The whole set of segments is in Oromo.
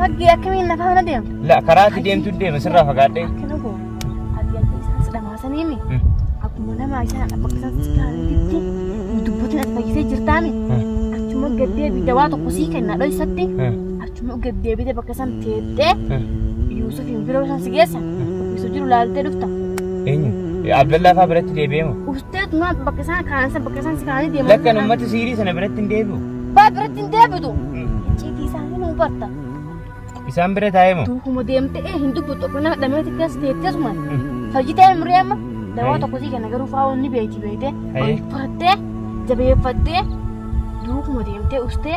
Maggii akkamiin na faana deemta? La karaa ati deemtu deema sirraa fagaadhee. Akkana koo ati akka isaan si dhamaasaniimi akkuma nama isaan bakka isaan si kaa'anitti dubbatiin ati fayyisee jirtaami. Achuma gaddee fi dawaa tokko sii kenna dhoysatti Chumuu gad deebitee bakka san teettee Yuusufiin biroo san si geessa. Yusuf jiru laaltee dhufta. Eenyu? Abdallaa faa biratti deebi'ee moo? Ustee tumaa bakka isaan kaan san bakka isaan si kaanii deeman. Lakkan uummata siirii sana biratti hin deebi'u. Baa biratti hin deebitu. Icciitii isaanii nu hubatta. Isaan bira taa'ee moo? Duukuma deemtee ee hin dubbatu tokko nama dhamee xiqqaa si teettee tuman. Fayyitee umrii amma dawaa tokko sii kenna garuu faa wanni beeyti beeytee Ayi. ol turtee jabeeffattee duukuma deemtee ustee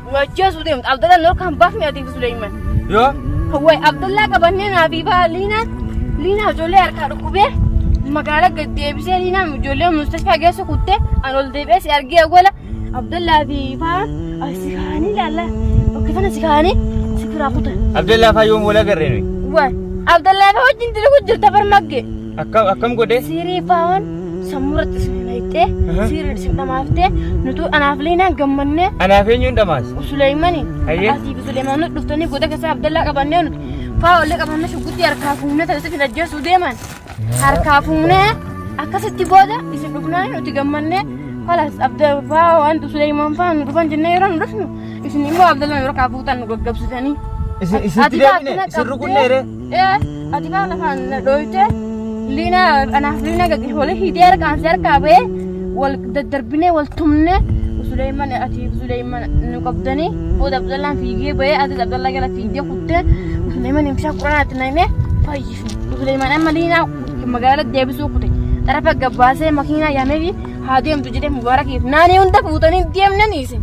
nu ajjeesuu deemtu abdalla noo kan baafne ati fi suleyman Yoo? hawwai abdallaa qabannee naa fi baa liinaa liinaa ijoollee harkaa dhukkubee magaala gad deebisee liinaa ijoollee mustashfaa geessu kuttee an ol deebi'ee si argee awwala abdallaa fi baa as si kaanii laalla bakka kana si kaanii si kiraa kutan Abdallaa faa yoom wal agarree nuyi? Wai, Abdallah fa wajjin dalagu jirta bar magge. Akkam akkam godhee? Siirii faawon sammuu irratti isin hin hayxee Aha. siiriin isin dhamaaftee nutuu anaaf leenaan gammannee Anaaf eenyuun dhamaas? Suleeymani Hayyee. asii fi Suleemaan nuti dhuftanii goda keessaa Abdallaa qabannee nuti faawollee qabannee shugguxii harkaa fuunee tajaajila isin ajjeesuu deeman harkaa fuunee akkasitti booda isin dhufnaa nuti gammannee kalas abda faawon Suleemaan faawon nu dhufan jennee yeroo nu dhufnu isin immoo Abdallaa yeroo kaa fuutan nu gaggabsitanii. Isin Ati- isitti ati deebine? taatee Isin qabdee- rukunnee ree? Ee, ati kaa lafaan na dhooyte liina anaaf liina gagge wali hidee harkaan si harkaa ba'ee wal daddarbinee wal tumne Suleeyman ati Suleeyman nu qabdanii booda Abdallaan fiigee ba'ee ati Abdallaa gara fiigdee kuttee Suleeyman imshaa quraanaatti na himee fayyifne Suleeyman amma liinaa magaala deebisuu kute xarafa gabbaasee makiinaa yaamee fi haa deemtu jedhee mubaarakiif naanii hunda fuutanii deemnanii isin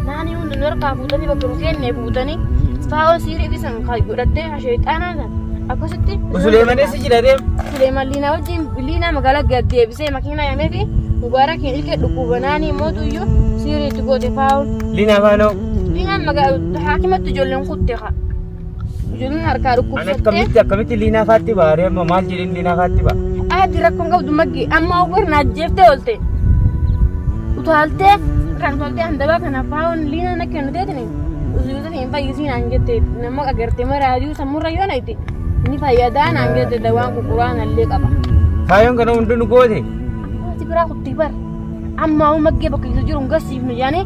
naanii hunda nu harkaa fuutanii bakka nu seennee fuutanii faa'oo siirii fi san kan godhattee asheexaanaa san akkasitti Suleemanis jira deem. Suleeman liinaa wajjin liinaa magaalaa gad deebisee makiinaa yaamee fi mubaarakiin ilkee dhukkuba naanii mootu iyyuu siirii itti goote faa'oon Lina Fano. liinaan magaalaa haakimatti ijoolleen kutte kaa. Ijoolleen harkaa Ani dhukkubsattee. akkamitti akkamitti liinaa faatti ba'a ree amma maal jedhin liinaa faatti ba'a. Ati rakkoon qabdu maggi amma ogwar na ajjeeftee oolte. Utaaltee kan utaaltee handabaa kana faawon liinaa na kennu teetini. Usuuta hin fayyisiin aan jette nama agartee maraa aduu sammurra yoo nayti. Ni fayyadaa naan jette dawaan kukuraan allee qaba. Faayoon kana hunduu nu goote. Ati biraa kutti bar. Amma hoo maggee bakka isa jiru hin garsiifnu jaanii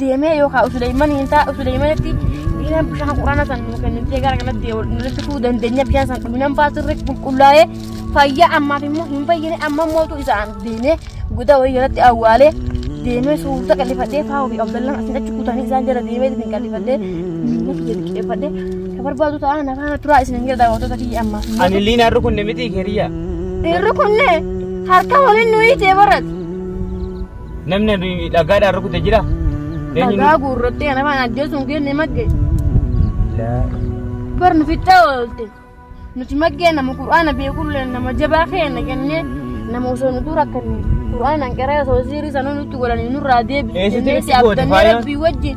deemee yookaan Usuleeyman hin ta'a Usuleeymanitti dhiiran bishaan quraana san nu kennitee gara kanatti nulitti fuu dandeenya bishaan san dhuminaan baasirra qulqullaa'ee fayyaa ammaaf immoo hin fayyine amma mootu isaan deemee gudaa wayii jalatti awwaalee deemee suuta qallifatee faa ofii abdallaan asin achi kutanii isaan jala deemee isin qallifatee miila kiyya liqeeffatee ka barbaadu ta'a nafaana turaa isin hanga daawwattoota kiyya ammaaf immoo Ani illee naarri kun miti kiriya. dhiirri kunne harka waliin nuyi jee barate Namni ani dhagaadhaan rukute jira. Eenyuun- Dhagaa guurrattee ana waan ajjeesuun kee ni magge. Bar nu fixxee oolte. Nuti maggee nama Qur'aana beekullee nama jabaa keenya kennee nama osoo nu dura kennee Qur'aanaan qaree osoo sirii sanuu nutti godhanii nurraa deebisu. Eessatti jennee nutti si goote abdannee faaya? rabbii wajjin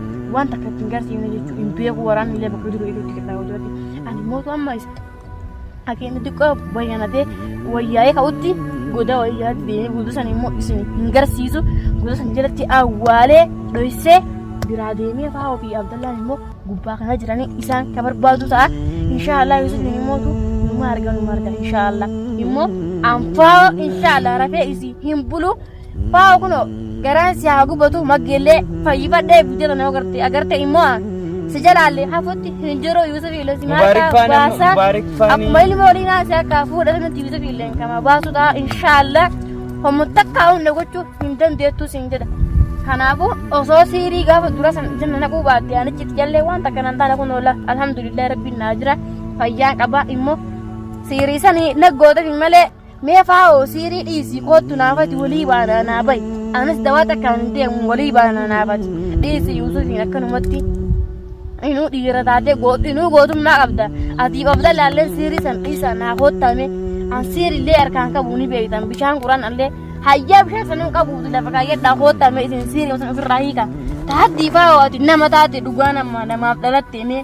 waan takka ittiin garsiifne jechuun hin beeku waraanni illee bakka jiru iluutti qixxaa yoo jirati ani mootu amma isa akeenya xiqqoo bayyanatee wayyaa'ee ka'utti goda wayyaatti deemee guutuu sana immoo isin hin garsiisu guutuu sana jalatti awwaalee dhoysee biraa deemee fa'aa ofii abdallaan immoo gubbaa kana jiranii isaan ka barbaadu ta'a inshaallah yusuf ni mootu numa arga numa arga inshaallah immoo anfaa inshaallah rafee isii hin bulu Faawo kunoo garaan si haa gubatu maggeellee fayyifadhee bujjata nama garte agarte immoo si jalaalle hafutti hin jiru Yuusuf illee si maal Mubaarik ta'a faana, baasa Mubaarik faani. akkuma ilma olii naa si akka fuudhatu nuti Yuusuf illee kama baasu ta'a inshaallah homu takka hunda gochuu hin dandeettu siin jedha. Kanaafuu osoo siirii gaafa dura san jenna naquu baatte anichi itti jallee waan takka nan taana kun oola alhamdulillah rabbiin naa jira fayyaa qaba immoo siirii sanii naggoota fi malee Mee faa'oo siirii dhiisii koottu naafati walii baanaa naa bayi. Anis dawaa takkaan hin deemu walii baanaa naafati. Dhiisi Yuusufiin akkanumatti. Inuu dhiira taatee goot- inuu gootummaa qabda. Atiif abda laalleen siirii san dhiisaa naa koottame. An siirillee harkaan qabu ni beektan bishaan quran allee hayyaa bishaan sanan qabuuti lafa kaayyadhaa koottame isin siirii san ofirraa hiika. Taattii faa'oo ati nama taate dhugaa nama namaaf dhalatte mee.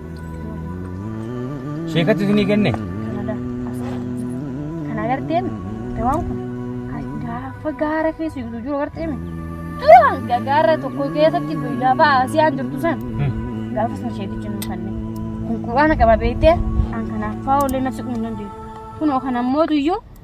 Sheekatti isinii kenne? Kanada asirra kana agarteem dawaan kun kan gaafa gaara keessa jiru jiru agarteem duraan ga- gaara tokko keessatti guyyaa ba'a si'aan jirtu san gaafa sana sheetichi nu kanne kun quraana qaba beektee an kanaaf faa ollee nafsi kun hin dandeenye kunoo kan ammootu iyyuu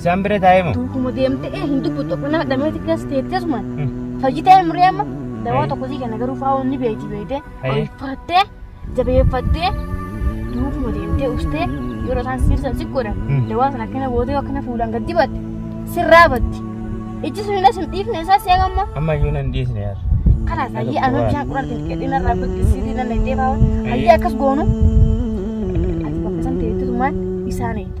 Isaan bira taa'ee moo? Duukuma deemtee ee hin dubbu tokko nama dhamee xiqqees teettee sumaan. Fayyitee hin muree amma dawaa Ayi. tokko sii kenna garuu faa'oon ni beekti beektee Ayi. olfattee jabeeffattee duukuma deemtee ustee yeroo isaan sirsa si godhan Mm. dawaa sana akkana bootee akkana fuulaan gad dibatte sirraa batti. Ijji sun hin asin dhiifne isaa si eegamma. Amma iyyuu nan dhiisne yaar. Kanaaf hayyee anoo bishaan quraan xixiqqeedhee narraa fakkisiitii nan eettee faa'oon hayyee akkas goonu. Ati bakka isaan teettutumaan isaan eegde.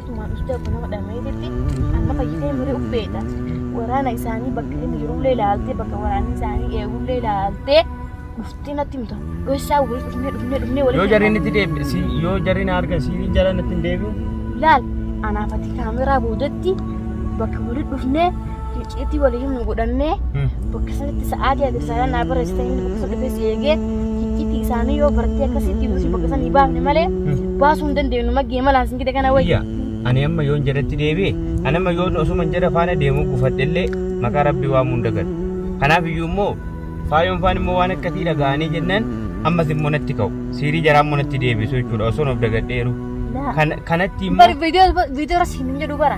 tumaan usdee kun nama dhamee jirti amma fayyitee muree uffeeta waraana isaanii bakka inni jirullee ilaaltee bakka waraanni isaanii eegullee ilaaltee dhuftee natti himta dhoysaa waliin dhufnee dhufnee dhufnee waliin yoo jarriin itti deebi si yoo jarriin arga siiriin jalaan itti hin deebi'u laal anaafati kaameraa boodatti bakka waliin dhufnee Hicciitii walii himnu godhannee bakka sanitti sa'aatii ati risaalaa naa barreessitee inni bakka sana dhufee si eegee hicciitii isaanii yoo bartee akkasitti ibsu bakka sana hin baafne malee baasuu hin dandeenyu maggee malaan sin gide kana wayya. Iyya ani amma yoon jedhetti deebi'e ani amma yoon osuma jedha faana deemuu gufadhellee maqaa rabbii waamuu hin dagatu. Kanaaf iyyuu immoo faayoon faan immoo waan akkatii dhaga'anii jennaan ammas immoo natti ka'u. Siirii jaraa immoo natti deebisu jechuudha osoon of dagadheeru. Kan- Kanatti immoo Bari viidiyoo viidiyoo irra siin hin jedhu bara.